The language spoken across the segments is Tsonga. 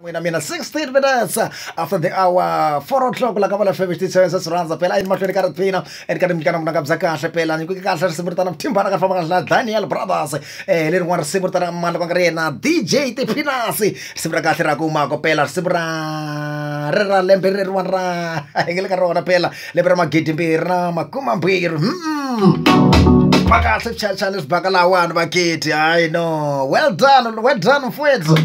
n'wina mina 16 minutes after the hour 4 o'clock la ka vona fm xititshweni se swi rhandza phela a yini mahlweni ka ri phina and ka nimnyikana munanga bya kahle phela nyikuke kahle risimu ri tana muthimbana ka famba kahle daniel brothers eh lerin'wana risimu ri tana mani va nga ri yena dj tiphinasi risimu ra kahle ra kumako phela risimu ra ri ra lembe reriwani ra hi nge le ka rona phela lembe ra magidi mbirhi na makuma mbirhi mm. va kahle swichayachayani leswi baka lahawani vakiti hayi no well done well done mfwethu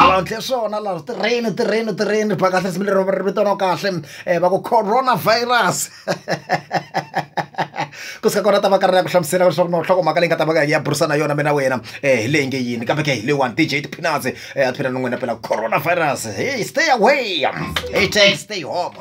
avantle swona laha tirheni tirheni tirheni ba kahle risimu lero ri vitana kahle um va ku coronavirus ku sika kona ta va karhi ya ku hlamusela leswaku no nhloko mhaka leyi nga ta va ka ya burisana yona mina wena um hi leyi nge yini kambe ke hi leyiwani dj tiphinatsi um a tiphina ni n'wina phela coronavirus hey stay away hey take stay home